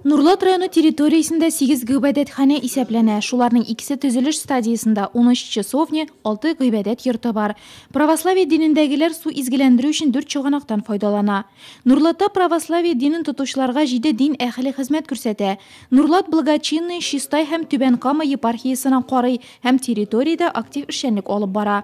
Нурлат районы территориясендә 8 гыйбадәтханә исәпләнә. Шуларның икесе төзелеш стадиясендә, 13 часовня, 6 гыйбадәт йорты бар. Православие динендәгеләр су изгеләндерү өчен дүрт чыганактан файдалана. Нурлатта православие динен тотучыларга җиде дин әһеле хезмәт күрсәтә. Нурлат благочинные Чистай һәм Түбән Кама епархиясенә карый һәм территориядә актив эшчәнлек алып бара.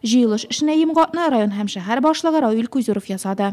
Җыелыш эшенә йомгакны район һәм шәһәр башлыгы Равил Куйзуров ясады.